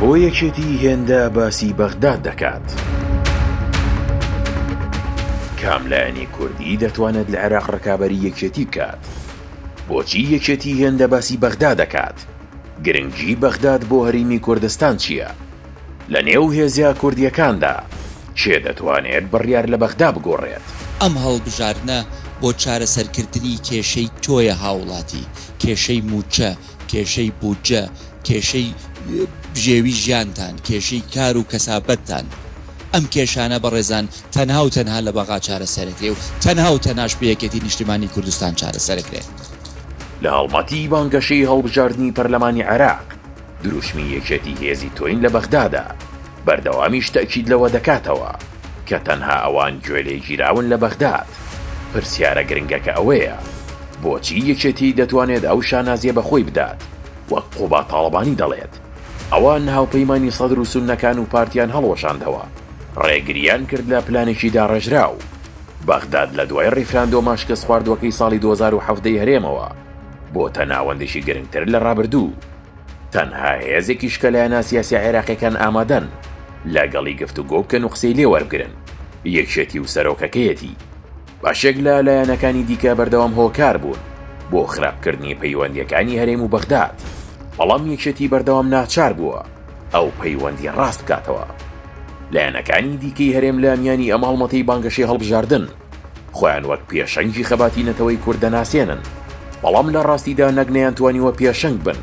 بۆ یەکێتی هێندە باسی بەغداد دەکات؟ کام لایەنی کوردی دەتوانێت لە عێراق ڕکابەری یەکێتی بکات؟ بۆچی یەکێتی هێندە باسی بەغدا دەکات؟ گرنگی بەغداد بۆ هەریمی کوردستان چییە؟ لە نێو هێزە کوردیەکاندا کێ دەتوانێت بڕیار لە بەغدا بگۆڕێت؟ ئەم هەڵبژاردنە بۆ چارەسەرکردنی کێشەی تۆیە هاوڵاتی، کێشەی موچە، کێشەی بودجە، کێشەی بژێوی ژیانتان، کێشەی کار و کەسابەتتان. ئەم کێشانە بەڕێزان تەنها و تەنها لە بەغا چارەسەرەکرێ و تەنها و تەناش بە یەکێتی نیشتیمانی کوردستان چارەسەرەکرێ. لە هەڵمەتی بانگەشەی هەڵبژاردنی پەرلەمانی عێراق، دروشمی یەکێتی هێزی تۆین لە بەغدادا. بەردەوامیش تەئکید لەوە دەکاتەوە، کە تەنها ئەوان گوێلێگیراون لە بەغداد. پرسیارە گرنگەکە ئەوەیە، بۆچی یەکێتی دەتوانێت ئەو شانازییە بە خۆی بدات، وەک قوباد تاڵەبانی دەڵێت، ئەوان هاوپەیمانی سەدر و سوننەکان و پارتیان هەڵوەشاندەوە، ڕێگرییان کرد لە پلانێکی داڕێژراو، بەغداد لە دوای ڕیفراندۆمە شکستخواردووەکەی ساڵی دوو هەزار و حەڤدە ی هەرێمەوە، بۆتە ناوەندێکی گرنگتر لە ڕابردوو. تەنها هێزێکیش کە لایەنە سیاسیە عێراقیەکان ئامادەن لە گەڵی گفت و گۆ بکەن و قسەی لێ وەربگرن یەکێتی و سەرۆکەکەیەتی باشێک لە لایەنەکانی دیکە بەردەوام هۆکار بوون بۆ خراپکردنی پەیوەندیەکانی هەرێم و بەغداد بەڵام یەکێتی بەردەوام ناچار بووە ئەو پەیوەندی ڕاست بکاتەوە لایەنەکانی دیکەی هەرێم لە میانی ئەم هەڵمەتەی بانگەشەی هەڵبژاردن خۆیان وەک پێشەنگی خەباتی نەتەوەی کورد دەناسێنن، بەڵام لە ڕاستیدا نەک نەیانتوانیوە پێشەنگ بن،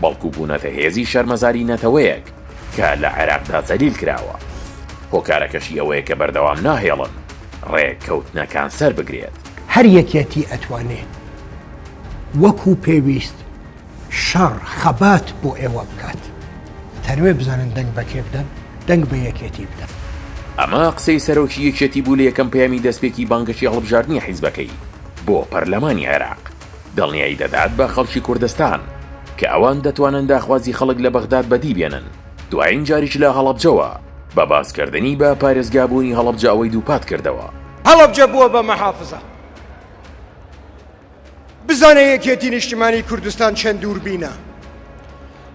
بەڵکو بوونەتە هێزی شەرمەزاری نەتەوەیەک کە لە عێراقدا زەلیل کراوە. هۆکارەکەشی ئەوەیە کە بەردەوام ناهێڵن ڕێککەوتنەکان سەربگرێت. هەر یەکێتی ئەتوانێ وەکو پێویست. شەڕ خەبات بۆ ئێوە بکات تەروێ بزانن دەنگ بەکێ بدەن دەنگ بە یەکێتی بدەن. ئەمە قسەی سەرۆکی یەکێتی بوو لە یەکەم پەیامی دەستپێکی بانگەشەی هەڵبژاردنی حیزبەکەی بۆ پەرلەمانی عێراق، دڵنیایی دەدات بە خەڵکی کوردستان کە ئەوان دەتوانن داخوازی خەڵک لە بەغداد بەدی بێنن، دوایین جاریش لە هەڵەبجەوە بە باسکردنی بە پارێزگا بوونی هەڵەبجە ئەوەی دووپات کردەوە. هەڵەبجە بووە بە مەحافزە. بزانە یەکێتی نیشتمانی کوردستان چەند دووربینە.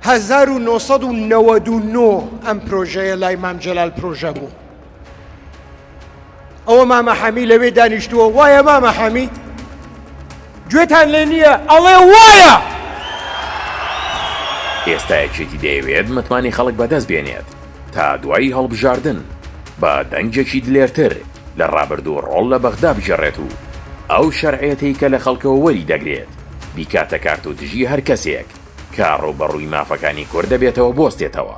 هەزار و نۆ سەد و نەوەد و نۆ ئەم پرۆژەیە لای مام جەلال پرۆژە بوو. ئەوە مامە حەمی لەوێ دانیشتووە وایە مامە حەمی گوێتان لێ نییە ئەڵێ وایە! ئێستا یەکێتی دەیەوێت متمانی خەڵک بەدەست بێنێت. تا دوای هەڵبژاردن بە دەنگێکی دلێرتر لە ڕابردوو ڕۆڵ لە بەغدا بگێڕێت و ئەو شەرعیەتەی کە لە خەڵکەوە وەری دەگرێت بیکاتە کارت و دژی هەر کەسێک کە ڕووبەڕووی مافەکانی کورد دەبێتەوە بوەستێتەوە.